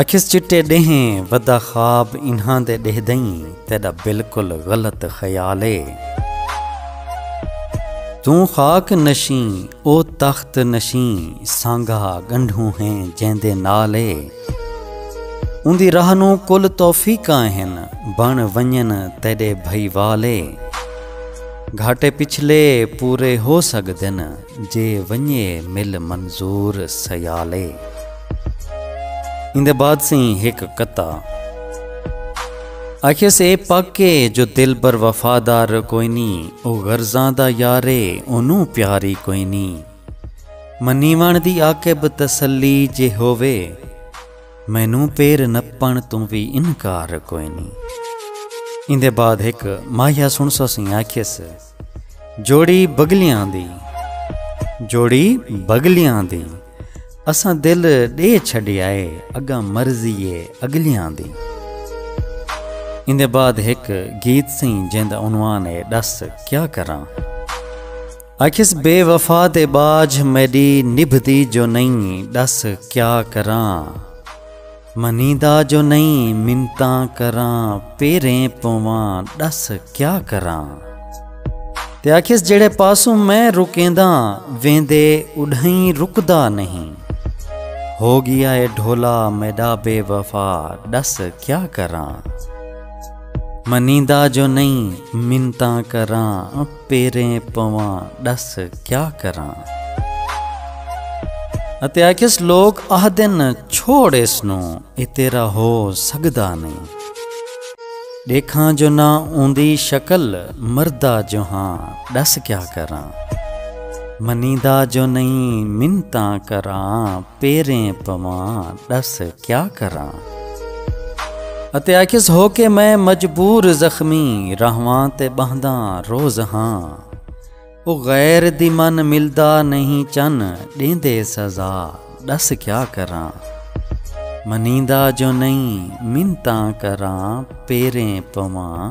آکھیس چٹے ڈیہیں ودا خواب انہاں دے ڈیہہ دئیں تیڈا بالکل غلط خیال اے توں خاک نشیں او تخت نشیں سانگا گنڈھوں ہیں جیندے نال اے اوندی راہ نوں کل توفیقاں ہن بن ونجن تیڈے بھائی وال اے گھاٹے پچھلے پورے ہو سگدن جے ونجے مل منظور سیالے۔ ایندے بعد سئیں ہک کتا۔ آکھیس اے پک اے جو دلبر وفادار کوئنی او غرضاں دا یار اے اونوں پیاری کوئنی منیوݨ دی عاقب تسلی جے ہووے مینوں پیر نپݨ توں وی انکار کوئنی۔ ایندے بعد ہک ماہیا سݨسو سئیں آکھیس۔ جوڑی بگلیاں دی جوڑی بگلیاں دی اساں دل ڈے چھڈیا اے اگاں مرضی اے اگلیاں دی اندے بعد ایک گیت سیں جیندا عنوان اے دس کیا کراں اکھس بے وفا تے باج میڈی نبھدی جو نہیں دس کیا کراں منیدا جو نئیں منتاں کراں پیریں پواں ڈس کیا کراں تے آکھیس جیڑھے پاسوں میں رکینداں ویندے اڈھئیں رکدا نہیں ہو گیا اے ڈھولا میڈا بے وفا ڈس کیا کراں منیدا جو نئیں منتاں کراں پیریں پواں ݙس کیا کراں۔ اتے آکھیس لوک آہدن چھوڑ ایس نوں اے تیرا ہو سڳدا نئیں۔ ݙیکھاں جو نہ اوندی شکل مردا جو ہاں ݙس کیا کراں۔ منیندا جو نئیں منتاں کراں پیریں پواں ݙس کیا کراں۔ اتے آکھیس ہو کے میں مجبور زخمی رہواں تے ٻہنداں روز ہاں او غیر دی من ملدا نہیں چن ݙیندے سزا ݙس کیا کراں منیندا جو نہیں منتاں کراں پیریں پواں